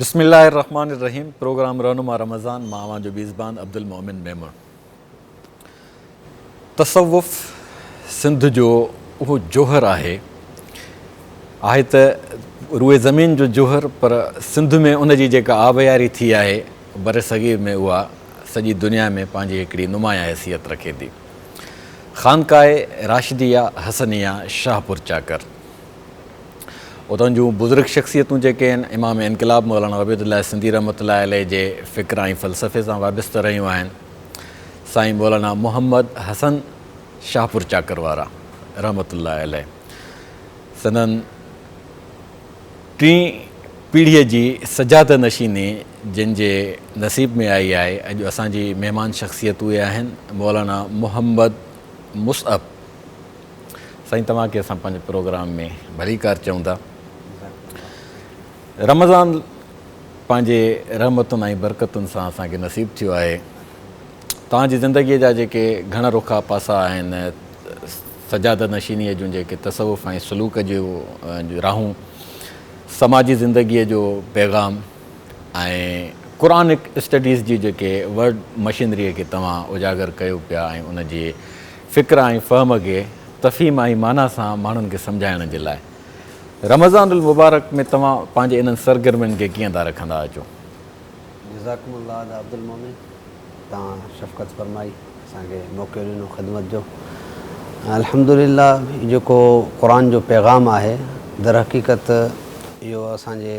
بسم الله الرحمن الرحيم پروگرام رهنما رمضان مان اوهان جو ميزبان عبدالمؤمن ميمڻ تصوف سنڌ جو اهو جوهر آهي آهي ته روئي زمين جو جوهر پر سنڌ ۾ ان جي جيڪا آبياري ٿي آهي بر صغير ۾ اها سڄي دنيا ۾ پنهنجي هڪڙي نمايان حيثيت رکي ٿي خانقاهه راشديه حسنيه شاهپور چاڪر اتان جون بزرگ شخصيتون جيڪي آهن امام انقلاب مولانا عبيد الله سنڌي رحمت الله عليه جي فڪر ۽ فلسفي سان وابسته رهيون آهن سائين مولانا محمد حسن شاهپور چاڪر وارا رحمت الله عليه سندن ٽين پيڙهيء جي سجاده نشيني جن جي نصيب ۾ آئي آهي. اڄ اسان جي مهمان شخصيت اهي آهن مولانا محمد مصعب سائين توهان کي اسان پنهنجي پروگرام ۾ ڀليڪار چئون ٿا رمضان پنهنجي رحمتن ۽ برڪتن سان اسان کي نصيب ٿيو آهي توهان جي زندگي جا جيڪي گهڻ رخا پاسا آهن سجاده نشيني جون جيڪي تصوف ۽ سلوڪ جون راهون سماجي زندگي جو پيغام ۽ قرآنڪ اسٽڊيز جي جيڪي ورڊ مشينريء کي توهان اجاگر ڪيو پيا ۽ ان جي فڪر ۽ فهم کي تفھيم ۽ معنيٰ سان ماڻھن کي سمجھائڻ جي لاء رمضان المبارڪ ۾ توهان پنهنجي انهن سرگرمين کي ڪيئن ٿا رکندا اچو؟ جزاڪم الله ادا عبدالمؤمن توهان شفقت فرمائي اسان کي موقعو ڏنو خدمت جو الحمدلله جيڪو قرآن جو پيغام آهي درحقيقت اهو اسان جي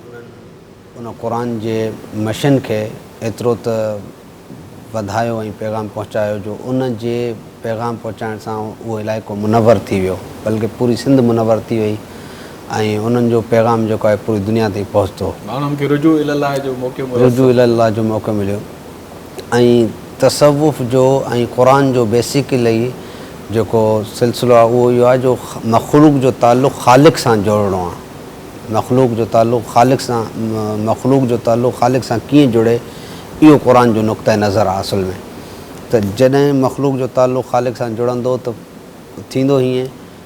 انهن ان قرآن جي مشن کي ايترو ته وڌايو ۽ پيغام پهچايو جو ان جي پيغام پهچائڻ سان اهو علائقو منور ٿي ويو بلڪه پوري سنڌ منور ٿي وئي ۽ انهن جو پيغام جيڪو آهي پوري دنيا تائين پهچتو. ماڻهن کي رجوع الالله جو موقعو ميسر ٿيو. ۽ تصوف جو ۽ قرآن جو بيسيڪلي جيڪو سلسلو آهي اهو اهو آهي جو مخلوق جو تعلق خالق سان جوڙڻو آهي مخلوق جو تعلق خالق سان مخلوق جو تعلق خالق سان ڪيئن جڙي اهو قرآن جو نقطه نظر آهي اصل ۾ ته جڏهن مخلوق جو تعلق خالق سان جڙندو ته ٿيندو هيئن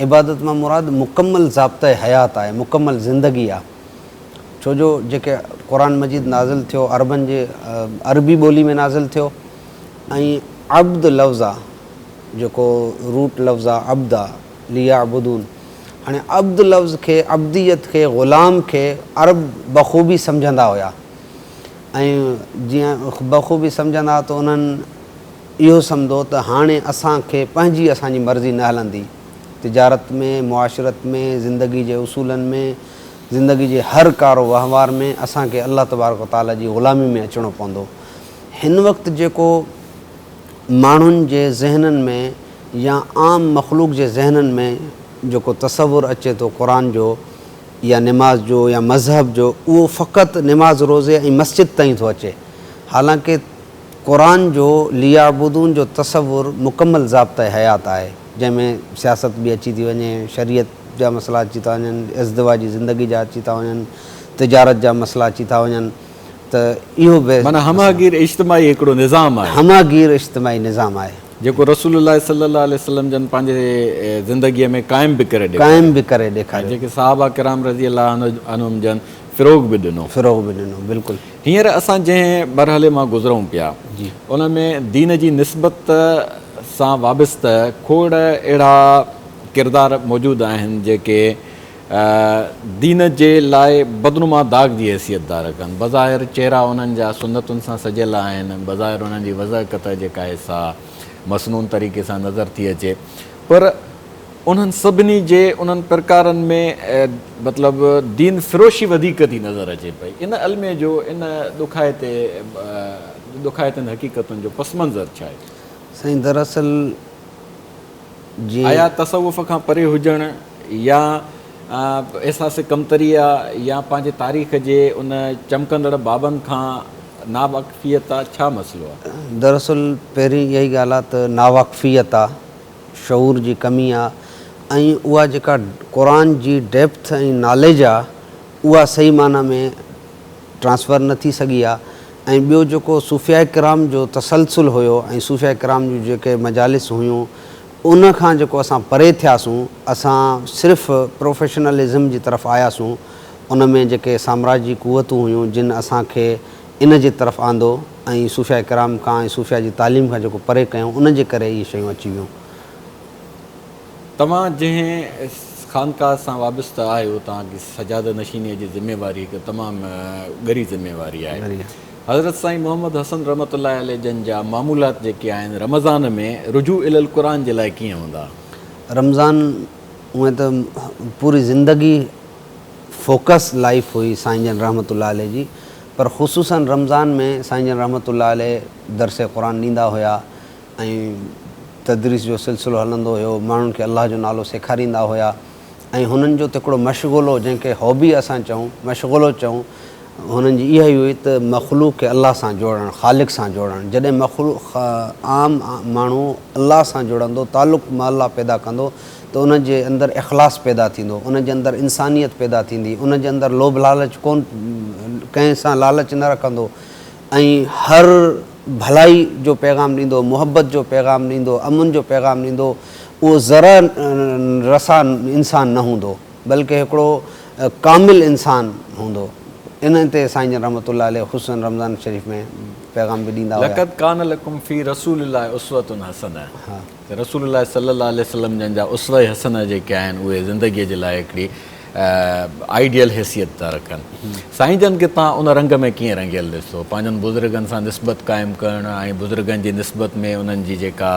عبادت مان مراد مڪمل ضابطه حيات آهي، مڪمل زندگي آهي، ڇو جو جيڪي قرآن مجيد نازل ٿيو عربن جي عربي ٻولي ۾ نازل ٿيو ۽ عبد لفظ آ جيڪو روٽ لفظ آ عبد آ ليعبدون هاڻي عبد لفظ کي عبديت کي غلام کي عرب بخوبي سمجهندا هيا ۽ جيئن بخوبي سمجهندا ته انهن اهو سمجهو ته هاڻي اسان کي پنهنجي اسان جي مرضي نه هلندي. تجارت ۾، معاشرت ۾، زندگي جي اصولن ۾، زندگي جي هر ڪار و وهنوار ۾ اسان کي الله تبارڪ و تعاليٰ جي غلامي ۾ اچڻو پوندو. هن وقت جيڪو ماڻهن جي ذهنن ۾ يا عام مخلوق جي ذهنن ۾ جيڪو تصور اچي ٿو قرآن جو يا نماز جو يا مذهب جو اهو فقط نماز روزي ۽ مسجد تائين ٿو اچي حالانڪه قرآن جو ليعبدون جو تصور مڪمل ضابطه حيات آهي، جنهن ۾ سياست به اچي ٿي وڃي، شريعت جا مسئلا اچي ٿا وڃن، ازدواجي زندگي جا اچي ٿا وڃن، تجارت جا مسئلا اچي ٿا وڃن ته اهو به معنيٰ همه گير اجتماعي هڪڙو نظام آهي. همه گير اجتماعي نظام آهي. جيڪو رسول الله صلي الله عليه وسلم جن پنهنجي زندگيء ۾ قائم به ڪري ڏيکاريو. قائم به ڪري ڏيکاريو. ۽ جيڪي صحابه ڪرام رضي الله عنهم جن فروغ به ڏنو. فروغ به ڏنو بلڪل. هينئر اسان جنهن مرحلي مان گذرون پيا، ان ۾ دين جي نسبت سان وابسته کوڙ اهڙا ڪردار موجود آهن، جيڪي دين جي لاء بدنما داغ جي حيثيت ڌار ڪن. بظاهر چهرا انهن جا سنتن سان سجيل آهن، بظاهر انهن جي وضع قطع جيڪا آهي سا مسنون طريقي سان نظر ٿي اچي، پر. انهن سڀني جي انهن پرڪارن ۾ مطلب دين فروشي وڌيڪ ٿي نظر اچي پئي. ان الميي جو ان ڏکائتي ڏکائتين حقيقتن جو پس منظر ڇا آهي؟ سائين دراصل جيئن. آيا تصوف کان پري هجڻ يا احساس ڪمتريء يا پنهنجي تاريخ جي ان چمڪندڙ بابن کان ناواقفيت آ ڇا مسئلو آ؟ دراصل پهرين اها ئي ڳالهه آ ته ناواقفيت آ. شعور جي ڪمي آ ۽ اها جيڪا قرآن جي ڊيپٿ ۽ ناليج آ اها صحيح معنيٰ ۾ ٽرانسفر نه ٿي سگهي آ ۽ ٻيو جيڪو صوفياء ڪرام جو تسلسل هيو ۽ صوفياء ڪرام جون جيڪي مجالس هيون ان کان جيڪو اسان پري ٿياسون اسان صرف پروفيشنلزم جي طرف آياسون ان ۾ جيڪي سامراجي قوتون هيون جن اسان کي ان جي طرف آندو ۽ صوفياء ڪرام کان ۽ صوفياء جي تعليم کان جيڪو پري ڪيائون ان جي ڪري اهي شيون اچي ويون. توهان جنهن خانقاهه سان وابسته آهيو توهان جي سجاده نشينيء جي ذميواري هڪ تمام ڳري ذميواري آهي. حضرت سائين محمد حسن رحمة الله عليه جن جا معمولات جيڪي آهن رمضان ۾ رجوع الي القرآن جي لاء ڪيئن هوندا؟ رمضان اونئن ته پوري زندگي. فوڪس لائيف هئي سائين جن رحمة الله عليه جي پر خصوصن رمضان ۾ سائين جن رحمة الله عليه درس قرآن ڏيندا هيا ۽ تدريس جو سلسلو هلندو هيو ماڻهن کي الله جو نالو سيکاريندا هيا ۽ هنن جو ته هڪڙو مشغلو جنهن کي هابي اسان چئون مشغلو چئون هنن جي اها ئي هئي ته مخلوق کي الله سان جوڙڻ خالق سان جوڙڻ جڏهن مخلوق عام ماڻهو الله سان جڙندو تعلق مع الله پيدا ڪندو ته انهن جي اندر اخلاص پيدا ٿيندو، انهن جي اندر انسانيت پيدا ٿيندي، انهن جي اندر لوڀ لالچ ڪون ڪنهن سان لالچ نه رکندو ۽ هر ڀلائي جو پيغام ڏيندو، محبت جو پيغام ڏيندو، امن جو پيغام ڏيندو، اهو ذره رسا انسان نه هوندو، بلڪه هڪڙو ڪامل انسان هوندو. ان تي سائين جن رحمة الله عليه خصوصاً رمضان شريف ۾ پيغام به ڏيندا هيا. لقد کان لکم في رسول الله اسوة حسنة ته رسول الله صلي الله عليه وسلم جن جا اسوه حسنه جيڪي آهن اهي زندگي جي لاء هڪڙي آئيڊيل حيثيت ٿا رکن. سائين جن کي توهان ان رنگ ۾ ڪيئن رنگيل ڏسو؟ پنهنجن بزرگن سان نسبت قائم ڪرڻ ۽ بزرگن جي نسبت ۾ انهن جي جيڪا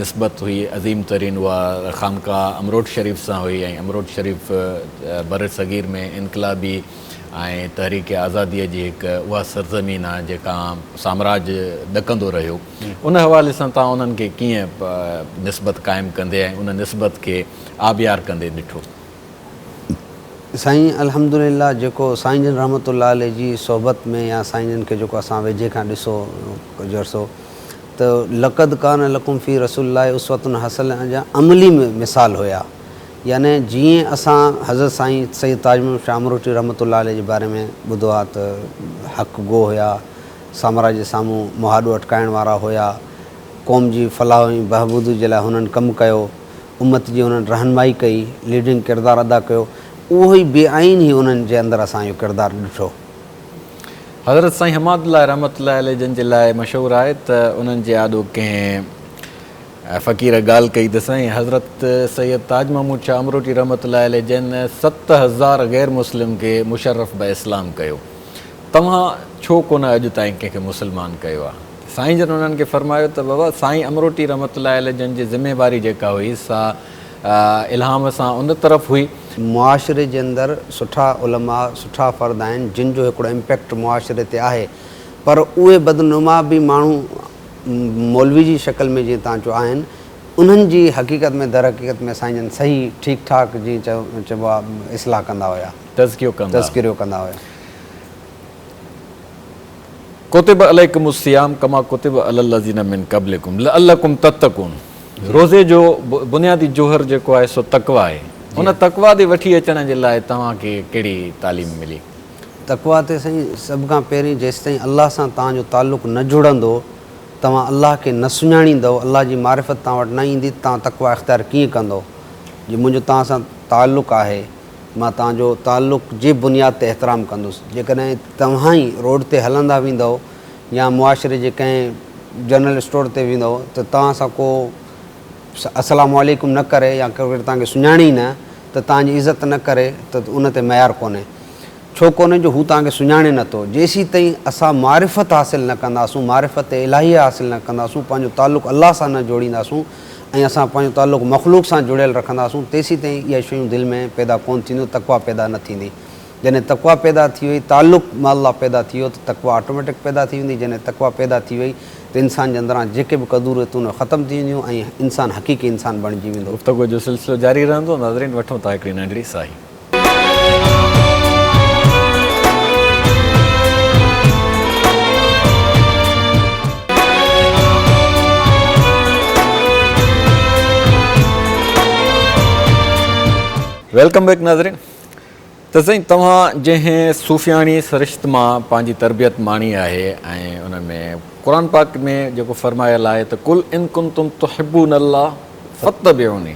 نسبت هئي عظيم ترين اها خانقاهه امروٽ شريف سان هئي ۽ امروٽ شريف برصغير ۾ انقلابي ۽ تحريڪ آزاديء جي هڪ اها سرزمين آهي جيڪا سامراج ڏڪندو رهيو. ان حوالي سان توهان انهن کي ڪيئن نسبت قائم ڪندي ۽ ان نسبت کي آبيار ڪندي ڏٺو؟ سائين الحمد لله جيڪو سائين جن رحمة الله عليه جي صحبت ۾ يا سائين جن کي جيڪو اسان ويجهي کان ڏسو ڪجهه عرصو ته لقد ڪان لڪم في رسول الله اسوة حسنة جا عملي مثال هيا يعني جيئن اسان حضرت سائين سيد تاج محمد شاهه امروٽي رحمة الله عليه جي باري ۾ ٻڌو آ ته حق گو هيا سامراج جي سامهون مهاڏو اٽڪائڻ وارا هيا. قوم جي فلاح ۽ بهبود جي لاء هنن ڪم ڪيو. امت جي هنن رهنمائي ڪئي، ليڊنگ ڪردار ادا ڪيو. اهو ئي بي آئين هي انهن جي اندر اسان اهو ڪردار ڏٺو. حضرت سائين حماد الله رحمة الله عليه جن جي لاء مشهور آهي ته انهن جي آڏو ڪنهن فقير ڳالهه ڪئي ته سائين حضرت سيد تاج محمود شاهه امروٽي رحمة الله عليه جن ست هزار غير مسلم کي مشرف به اسلام ڪيو. توهان ڇو ڪونه اڄ تائين ڪنهن کي مسلمان ڪيو آ؟ سائين جن انهن کي فرمايو ته بابا سائين امروٽي رحمة الله عليه جن جي ذميواري جيڪا هئي سا الهام سان ان طرف هئي. معاشري جي اندر سٺا علماء سٺا فرد آهن جن جو هڪڙو امپيڪٽ معاشري تي آهي پر اهي بدنما به ماڻهو مولوي جي شڪل ۾ جيئن توهان چيو آهن انهن جي حقيقت ۾ درحقيقت ۾ سائين جن صحيح ٺيڪ ٺاڪ جيئن چئبو آ اصلاح ڪندا هيا. تذڪريو ڪندا تذڪريو ڪندا هيا. ڪتب عليڪم الصيام ڪما ڪتب علي الذين من قبلكم لعلکم تتقون روزي جو بنيادي جوهر جيڪو آهي سو تقويٰ آهي ان تقويٰ ڏي وٺي اچڻ جي لاء توهان کي ڪهڙي تعليم ملي؟ تقويٰ تي سائين سڀ کان پهرين جيستائين الله سان توهان جو تعلق نه جڙندو توهان الله کي نه سڃاڻيندؤ الله جي معرفت توهان وٽ نه ايندي ته توهان تقويٰ اختيار ڪيئن ڪندؤ جي منهنجو توهان سان تعلق آهي مان توهان جو تعلق جي بنياد تي احترام ڪندس. جيڪڏهن توهان ئي روڊ تي هلندا ويندؤ يا معاشري جي ڪنهن جنرل اسٽور تي ويندؤ ته توهان سان ڪو السلام عليڪم نه ڪري يا ڪو توهان کي سڃاڻي ئي نه ته توهان جي عزت نه ڪري ته ان تي معيار ڪونهي. ڇو ڪونهي جو هو توهان کي سڃاڻي نه ٿو. جيسيتائين اسان معرفت حاصل نه ڪنداسون، معرفت الٰهيه حاصل نه ڪنداسون، پنهنجو تعلق الله سان نه جوڙينداسون، ۽ اسان پنهنجو تعلق مخلوق سان جڙيل رکنداسون تيسيتائين اهي شيون دل ۾ پيدا ڪونه ٿينديون تقويٰ پيدا نه ٿيندي جڏهن تقويٰ پيدا ٿي وئي تعلق مع الله پيدا ٿي ويو ته تقويٰ آٽوميٽڪ پيدا ٿي ويندي جڏهن تقويٰ پيدا ٿي وئي ته انسان جي اندران جيڪي به ڪدوريتون اهي ختم ٿي وينديون ۽ انسان حقيقي انسان بڻجي ويندو. گفتگو جو سلسلو جاري رهندو ناظرين وٺون ٿا هڪڙي ننڍڙي ساهي. ويلڪم بيڪ ناظرين ته سائين توهان جنهن صوفياڻي سرشت مان پنهنجي تربيت ماڻي آهي ۽ ان ۾ قرآن پاڪ ۾ جيڪو فرمايل آهي ته قل ان کنتم تحبون الله فتبعوني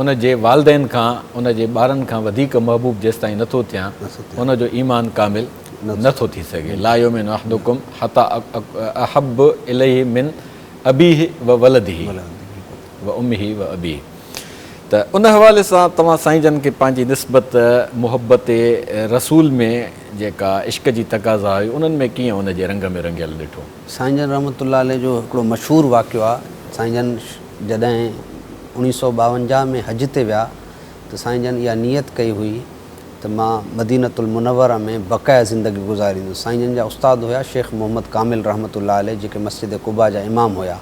ان جي والدين کان ان جي ٻارن کان وڌيڪ محبوب جيستائين نه ٿو ٿيان ان جو ايمان ڪامل نه ٿو ٿي سگهي لا يؤمن احدڪم حتي احب اليه من ابيه وولده وامه وابيه ته ان حوالي سان توهان سائين جن کي پنهنجي نسبت محبت رسول ۾ جيڪا عشق جي تقاضا هئي انهن ۾ ڪيئن ان جي رنگ ۾ رنگيل ڏٺو؟ سائين جن رحمة الله عليه جو هڪڙو مشهور واقعو آ سائين جن جڏهن اوڻيهه سؤ ٻاونجاهه ۾ حج تي ويا ته سائين جن اها نيت ڪئي هئي ته مان مدينة المنوره ۾ بقايا زندگي گذاريندس. سائين جن جا استاد هيا شيخ محمد ڪامل رحمة الله عليه جيڪي مسجد قباء جا امام هيا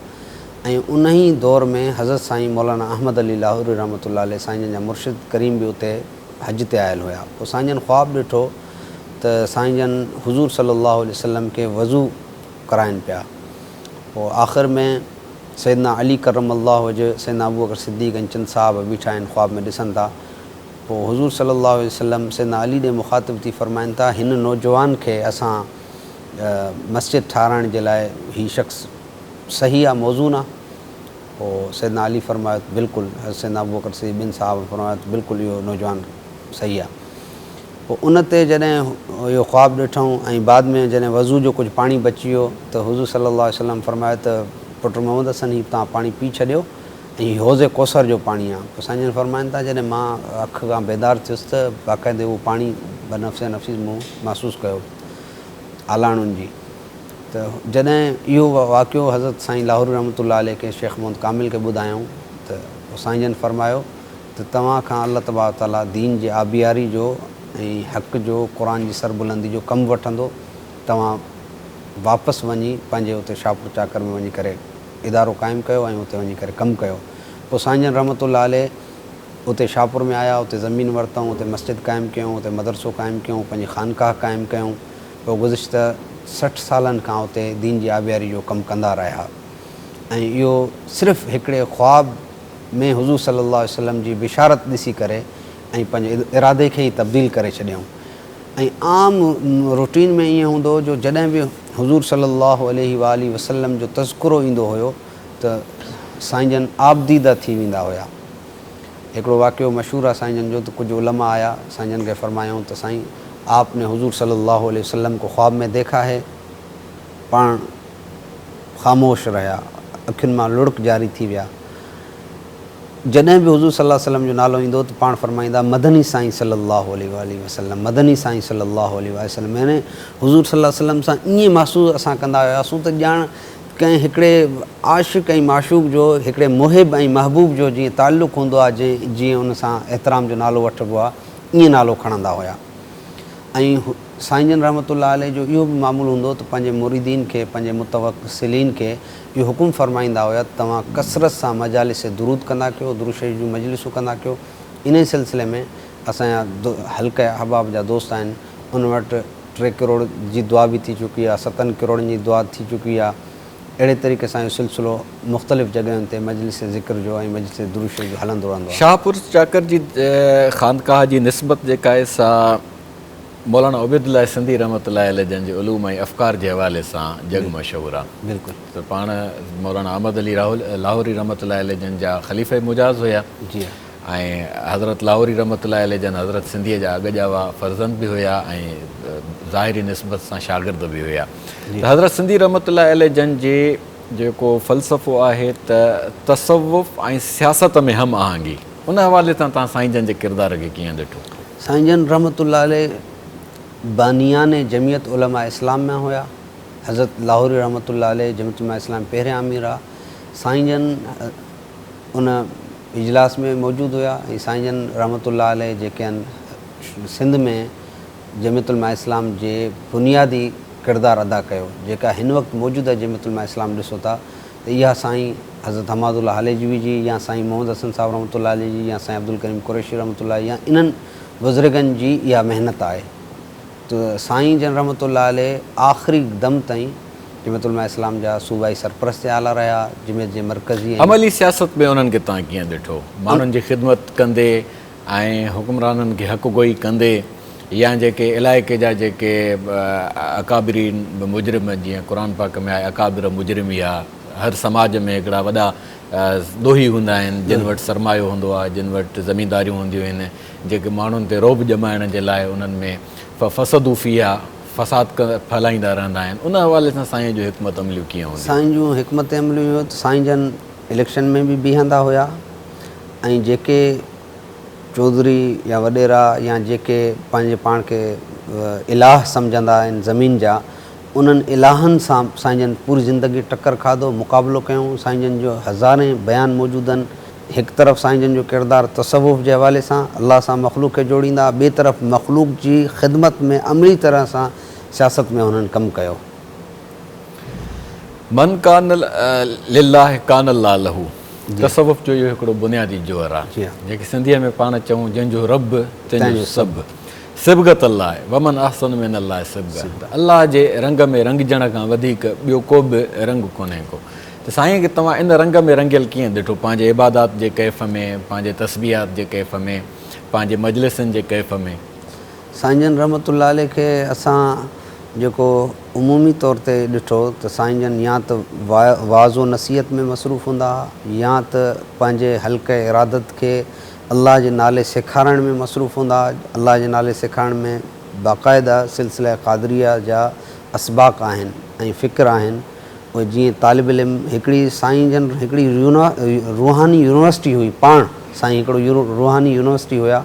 ۽ انهي دور ۾ حضرت سائين مولانا احمد علي لاهوري رحمة الله عليه سائين جن جا مرشد ڪريم به اتي حج تي آيل هيا پوء سائين جن خواب ڏٺو ته سائين جن حضور صلي الله عليه وسلم کي وضو ڪرائين پيا پوء آخر ۾ سيدنا علي ڪرم الله وجه، سيدنا ابوبڪر صديق ۽ چند صحابه بيٺا آهن خواب ۾ ڏسن ٿا. پوء حضور صلي الله عليه وسلم سيدنا علي ڏي مخاطب ٿي فرمائن ٿا هن نوجوان کي اسان مسجد ٺاهرائڻ جي لاء هي شخص صحيح آ موزون آ؟ پوء سيدنا علي فرمايو ته بلڪل حضرت سيدنا ابوبڪر صديق ٻن صحابن فرمايو ته بلڪل اهو نوجوان صحيح آ. پوء ان تي جڏهن اهو خواب ڏٺئون ۽ بعد ۾ جڏهن وضوء جو ڪجهه پاڻي بچي ويو ته حضور صلّي اللّٰه عليه وسلّم فرمايو ته پٽ محمّد حسن هي توهان پاڻي پي ڇڏيو ۽ هي حوض ڪوثر جو پاڻي آهي پوء سائين جن فرمائن ٿا جڏهن مان اک کان بيدار ٿيس ته باقاعدي اهو پاڻي بنفس نفيس مون محسوس ڪيو آلاڻون جي ته جڏهن اهو واقعو حضرت سائين لاهوري رحمة الله عليه کي شيخ محمّد ڪامل کي ٻڌايائون ته پوء سائين جن فرمايو ته توهان کان الله تبارڪ وتعاليٰ دين جي آبياري جو ۽ حق جو، قرآن جي سربلندي جو ڪم وٺندو، توهان واپس وڃي پنهنجي اتي شاهپور چاڪر ۾ وڃي ڪري ادارو قائم ڪيو ۽ اتي وڃي ڪري ڪم ڪيو. پوء سائين جن رحمة الله عليه اتي شاهپور ۾ آيا، اتي زمين ورتائون، اتي مسجد قائم ڪيائون، اتي مدرسو قائم ڪيائون، پنهنجي خانقاهه قائم ڪيائون، پوء گذشته سٺ سالن کان اتي دين جي آبياري جو ڪم ڪندا رهيا ۽ اهو صرف هڪڙي خواب ۾ حضور صلي الله عليه وسلم جي بشارت ڏسي ڪري ۽ پنهنجي ارادي کي ئي تبديل ڪري ڇڏيائون ۽ عام روٽين ۾ ائين هوندو هو جو جڏهن به حضور صلي الله عليه واٰله وسلم جو تذڪرو ايندو هيو ته سائين جن آبديده ٿي ويندا هيا هڪڙو واقعو مشهور آهي سائين جن جو ته ڪجهه علماء آيا سائين جن کي فرمايائون ته سائين آپ ني حضور صلي الله عليه وسلم ڪو خواب ۾ ديکا هي؟ پاڻ خاموش رهيا، اکين مان لڙڪ جاري ٿي ويا. جڏهن به حضور صلي الله عليه وسلم جو نالو ايندو هو ته پاڻ فرمائيندا، مدني سائين صلي الله عليه واٰله وسلم، مدني سائين صلي الله عليه واٰله وسلم يعني حضور صلي الله عليه وسلم سان ائين محسوس اسان ڪندا هياسون ته ڄاڻ ڪنهن هڪڙي عاشق ۽ معشوق جو، هڪڙي محب ۽ محبوب جو جيئن تعلق هوندو آهي جيئن ان سان احترام جو نالو وٺبو آهي، ائين نالو کڻندا هيا ۽ سائين جن رحمة الله عليه جو اهو به معمول هوندو ته پنهنجي مريدين کي، پنهنجي متوسلين کي اهو حڪم فرمائيندا هيا ته توهان ڪثرت سان مجالس درود ڪندا ڪيو، درود شريف جون مجلسون ڪندا ڪيو. انهيء سلسلي ۾ اسان جا حلقه احباب جا دوست آهن، انهن وٽ ٽي ڪروڙ جي دعا به ٿي چڪي آهي، ستن ڪروڙن جي دعا ٿي چڪي آهي. اهڙي طريقي سان اهو سلسلو مختلف جڳهين تي مجلس ذڪر جو ۽ مجلس درود شريف جو هلندو رهندو آهي. شاهپور چاڪر جي خانقاهه جي نسبت جيڪا آهي سا مولانا عبيدالله سنڌي رحمة الله عليه جن جي علوم ۽ افڪار جي حوالي سان جڳ مشهور آ. بلڪل. ته پاڻ مولانا احمد علي لاهوري رحمة الله عليه جن جا خليفه مجاز هيا جي ها. ۽ حضرت لاهوري رحمة الله عليه جن حضرت سنڌيء جا اڳ ڄاوا فرزند به هيا ۽ ظاهري نسبت سان شاگرد به هيا. ته حضرت سنڌي رحمة الله عليه جن جي جيڪو فلسفو آهي ته تصوف ۽ سياست ۾ هم آهنگي. ان حوالي سان توهان سائين جن جي ڪردار کي ڪيئن ڏٺو؟ سائين جن رحمة الله عليه بانيان جمعيت علماء اسلام مان هيا. حضرت لاهوري رحمة الله عليه جمعيت علماء اسلام جا پهريان امير ها. سائين جن ان اجلاس ۾ موجود هيا ۽ سائين جن رحمة الله عليه جيڪي آهن سنڌ ۾ جمعيت علماء اسلام جي بنيادي ڪردار ادا ڪيو. جيڪا هن وقت موجوده جمعيت علماء اسلام ڏسو ٿا ته اها سائين حضرت حماد الله هاليجوي جي يا سائين محمد حسن صاحب رحمة الله عليه جي يا سائين عبدالڪريم قريشي رحمة الله يا انهن بزرگن جي اها محنت آهي ته سائين جن رحمة الله عليه آخري دم تائين جمعيت علماء اسلام جا صوبائي سرپرست اعليٰ رهيا، جمعيت جي مرڪزي ۽. عملي سياست ۾ انهن کي توهان ڪيئن ڏٺو؟ ماڻهن جي خدمت ڪندي. ۽ حڪمرانن کي حق گوئي ڪندي يا جيڪي علائقي جا جيڪي اڪابرين مجرم جيئن قرآن پاڪ ۾ آهي اڪابر مجرميا هر سماج ۾ هڪڙا وڏا ڏوهي هوندا آهن جن وٽ سرمايو هوندو آهي جن وٽ زمينداريون هونديون آهن جيڪي ماڻهن تي رعب ڄمائڻ جي لاء انهن ۾ ففسدو فيها فساد ڦهلائيندا رهندا آهن ان حوالي سان سائين جون حڪمت عمليون ڪيئن هونديون سائين جون حڪمت عمليون سائين جن اليڪشن ۾ به بيهندا هيا. ۽ جيڪي چوڌري يا وڏيرا يا جيڪي پنهنجي پاڻ کي الاهه سمجهندا آهن زمين جا انهن الاهن سان سائين جن پوري زندگي ٽڪر کاڌو مقابلو ڪيائون سائين جن جو هزارين بيان موجود آهن هڪ طرف سائين جن جو ڪردار تصوف جي حوالي سان الله سان مخلوق کي جوڙيندا ٻي طرف مخلوق جي خدمت ۾ عملي طرح سان سياست ۾ هنن ڪم ڪيو. من ڪان لله ڪان الله له. تصوف جو اهو هڪڙو بنيادي جوهر آهي، جنهن کي سنڌيء ۾ پاڻ چئون جنهن جو رب تنهن جو سڀ، صبغة الله ومن احسن من الله صبغة ته الله جي رنگ ۾ رنگجڻ کان وڌيڪ ٻيو ڪو به رنگ ڪونهي ڪو ته سائين کي توهان ان رنگ ۾ رنگيل ڪيئن ڏٺو پنهنجي عبادات جي ڪيف ۾، پنهنجي تسبيحات جي ڪيف ۾، پنهنجي مجلسن جي ڪيف ۾. سائين جن رحمت الله عليه کي اسان جيڪو عمومي طور تي ڏٺو ته سائين جن يا ته وعظ و نصيحت ۾ مصروف هوندا ها يا ته پنهنجي حلقه ارادت کي الله جي نالي سيکارڻ ۾ مصروف هوندا ها الله جي نالي سيکارڻ ۾ باقاعده سلسله قادريه جا اسباق آهن ۽ فڪر آهن اهي جيئن طالب علم هڪڙي سائين جن هڪڙي روحاني يونيورسٽي هئي پاڻ سائين هڪڙو روحاني يونيورسٽي هيا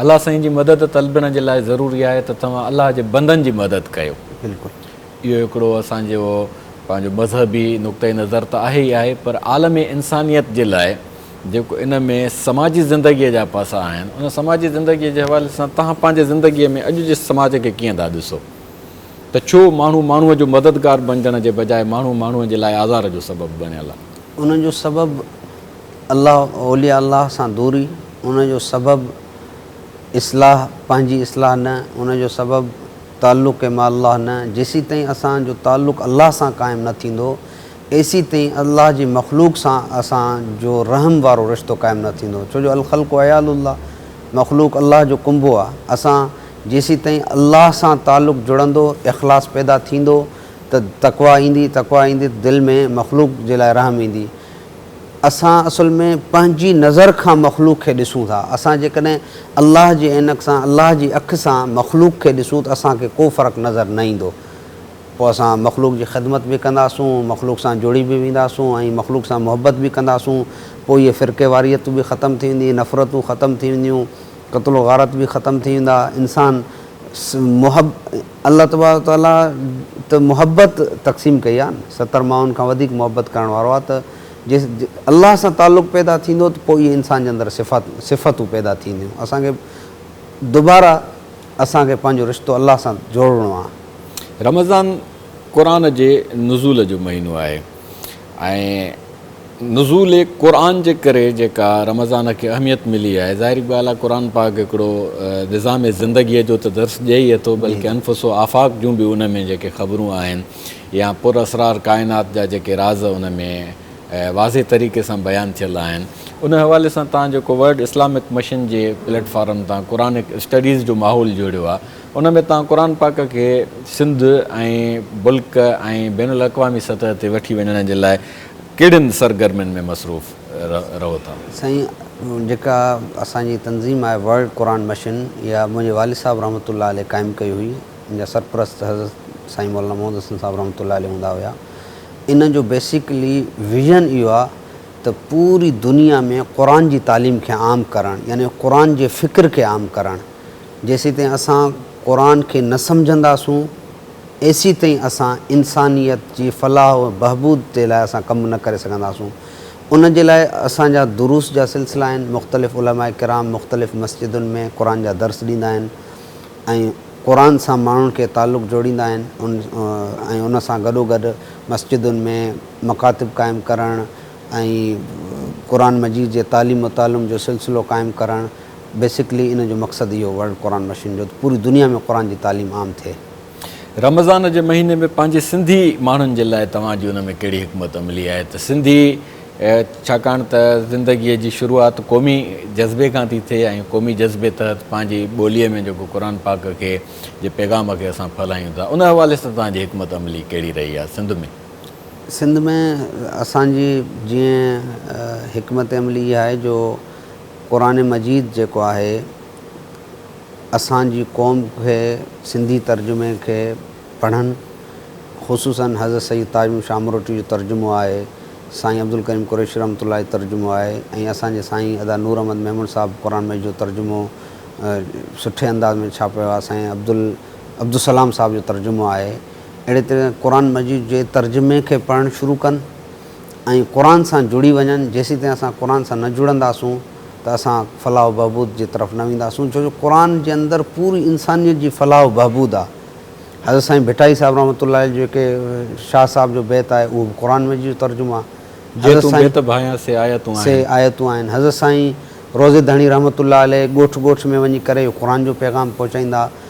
الله سائين جي مدد طلبڻ جي لاء ضروري آهي ته توهان الله جي بندن جي مدد ڪيو. بلڪل. اهو هڪڙو اسان جو پنهنجو مذهبي نقطه نظر ته آهي ئي آهي پر عالم انسانيت جي لاء جيڪو ان ۾ سماجي زندگيء جا پاسا آهن ان سماجي زندگيء جي حوالي سان توهان پنهنجي زندگيء ۾ اڄ جي سماج کي ڪيئن ٿا ڏسو ته ڇو ماڻهو ماڻهو جو مددگار بنجڻ جي بجاء ماڻهو ماڻهو جي لاء آزار جو سبب بڻيل آهي. ان جو سبب. الله اولياء الله سان دوري ان جو سبب اصلاح پنهنجي اصلاح نه ان جو سبب تعلق مع الله نه جيسيتائين اسان جو تعلق الله سان قائم نه ٿيندو ايسي تائين الله جي مخلوق سان اسان جو رحم وارو رشتو قائم نه ٿيندو ڇو جو الخلق عيال الله مخلوق الله جو ڪنبو آ اسان جيسيتائين الله سان تعلق جڙندو اخلاص پيدا ٿيندو ته تقويٰ ايندي تقويٰ ايندي ته دل ۾ مخلوق جي لاء رحم ايندي اسان اصل ۾ پنهنجي نظر کان مخلوق کي ڏسون ٿا. اسان جيڪڏهن الله جي عينڪ سان، الله جي اک سان مخلوق کي ڏسون ته اسان کي ڪو فرق نظر نه ايندو. پوء اسان مخلوق جي خدمت به ڪنداسون، مخلوق سان جڙي به وينداسون ۽ مخلوق سان محبت به ڪنداسون. پوء اهي فرقيواريتون به ختم ٿي ويندي، نفرتون ختم ٿي وينديون، قتل و غارت به ختم ٿي ويندا. انسان محب. الله تبارڪ وتعاليٰ ته محبت تقسيم ڪئي آهي نه، ستر ماڻهن کان وڌيڪ محبت ڪرڻ وارو آهي ته جي الله سان تعلق پيدا ٿيندو ته پوء اهي انسان جي اندر صفات صفتون پيدا ٿينديون. اسان کي دوباره اسان کي پنهنجو رشتو الله سان جوڙڻو آهي. رمضان قرآن جي نزول جو مهينو آهي. ۽ نزول قرآن جي ڪري جيڪا رمضان کي اهميت ملي آهي ظاهري ڳالهه آهي قرآن پاڪ هڪڙو نظام زندگيء جو ته درس ڏئي ئي ٿو بلڪه انفس و آفاق جون به ان ۾ جيڪي خبرون آهن يا پر اسرار ڪائنات جا جيڪي راز ان ۾ واضح طريقي سان بيان ٿيل آهن ان حوالي سان توهان جيڪو ورلڊ اسلامڪ مشن جي پليٽ فارم تان قرآنڪ اسٽڊيز جو ماحول جوڙيو آهي ان ۾ توهان قرآن پاڪ کي سنڌ ۽ بلڪ ۽ بين الاقوامي سطح تي وٺي وڃڻ جي لاء ڪهڙين سرگرمين ۾ مصروف رهو ٿا؟ سائين جيڪا اسان جي تنظيم آهي ورلڊ قرآن مشن اها منهنجي والد صاحب رحمة الله عليه قائم ڪئي هئي ان جا سرپرست حضرت سائين مولانا محمد حسن صاحب رحمة الله عليه هوندا هيا ان جو بيسڪلي ويزن اهو آهي ته پوري دنيا ۾ قرآن جي تعليم کي عام ڪرڻ يعني قرآن جي فڪر کي عام ڪرڻ. جيسيتائين اسان قرآن کي نه سمجهنداسون ايسي تائين اسان انسانيت جي فلاح و بهبود تي لاء اسان ڪم نه ڪري سگهنداسون ان جي لاء اسان جا دروس جا سلسلا آهن مختلف علماء ڪرام مختلف مسجدن ۾ قرآن جا درس ڏيندا آهن ۽ قرآن سان ماڻهن کي تعلق جوڙيندا آهن ان ۽ ان سان گڏوگڏ مسجدن ۾ مڪاتب قائم ڪرڻ ۽ قرآن مجيد جي تعليم و تعلم جو سلسلو قائم ڪرڻ بيسڪلي ان جو مقصد اهو ورلڊ قرآن مشن جو ته پوري دنيا ۾ قرآن جي تعليم عام ٿئي. رمضان جي مهيني ۾ پنهنجي سنڌي ماڻهن جي لاء توهان جي ان ۾ ڪهڙي حڪمت عملي آهي ته سنڌي ڇاڪاڻ ته زندگي جي شروعات قومي جذبي کان ٿي ٿئي ۽ قومي جذبي تحت پنهنجي ٻولي ۾ جيڪو قرآن پاڪ کي جي پيغام کي اسان ڦهلايون ٿا ان حوالي سان توهان جي حڪمت عملي ڪهڙي رهي آهي سنڌ ۾ سنڌ ۾ اسان جي جيئن حڪمت عملي اها آهي جو قرآن مجيد جيڪو آهي اسان جي قوم کي سنڌي ترجمي کي پڙهن خصوصاً حضرت سيد تاج محمد شاهه مروٽي جو ترجمو آهي سائين عبدالڪريم قريشي رحمة الله جو ترجمو آهي ۽ اسان جي سائين ادا نور احمد ميمڻ صاحب قرآن مجيد جو ترجمو سٺي انداز ۾ ڇاپيو آهي سائين عبدالسلام صاحب جو ترجمو آهي اهڙي طرح قرآن مجيد جي ترجمي کي پڙهڻ شروع ڪن ۽ قرآن سان جڙي وڃن، جيسيتائين اسان قرآن سان نه جڙنداسون ته اسان فلاح و بهبود جي طرف نه وينداسون، ڇو جو قرآن جي اندر پوري انسانيت جي فلاح و بهبود آ. حضرت سائين ڀٽائي صاحب رحمة الله عليه جو هڪ شاهه صاحب جو بيت آهي اهو به قرآن مجيد جو ترجمو آ. جي تون بيت ڀانئين سي آيتون آهن. سي آيتون آهن. حضرت سائين روضي ڌڻي رحمة الله عليه ڳوٺ ڳوٺ ۾ وڃي ڪري قرآن جو پيغام پهچائيندا.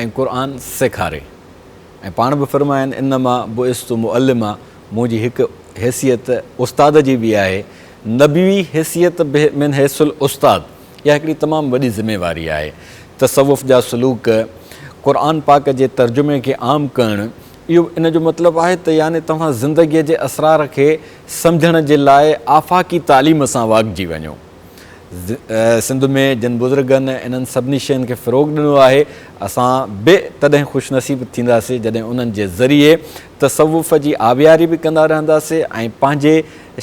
۽ قرآن سيکاري ۽ پاڻ به فرماين انما بعثت معلما منهنجي هڪ حيثيت استاد جي به آهي نبوي حيثيت من حيث الاستاد اها هڪڙي تمام وڏي ذميواري آهي تصوف جا سلوڪ قرآن پاڪ جي ترجمي کي عام ڪرڻ اهو ان جو مطلب آهي ته يعني توهان زندگي جي اسرار کي سمجهڻ جي لاء آفاقي تعليم سان واڳجي وڃو. سنڌ ۾ جن بزرگن انهن سڀني شين کي فروغ ڏنو آهي، اسان به تڏهن خوش نصيب ٿينداسين جڏهن انهن جي ذريعي تصوف جي آبياري به ڪندا رهنداسين ۽ پنهنجي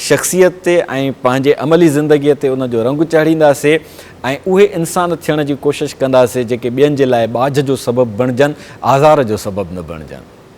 شخصيت تي ۽ پنهنجي عملي زندگيء تي ان جو رنگ چهڙينداسين ۽ اهي انسان ٿيڻ جي ڪوشش ڪنداسين جيڪي ٻين جي لاء ٻاجهه جو سبب بڻجن آزار جو سبب نه بڻجن.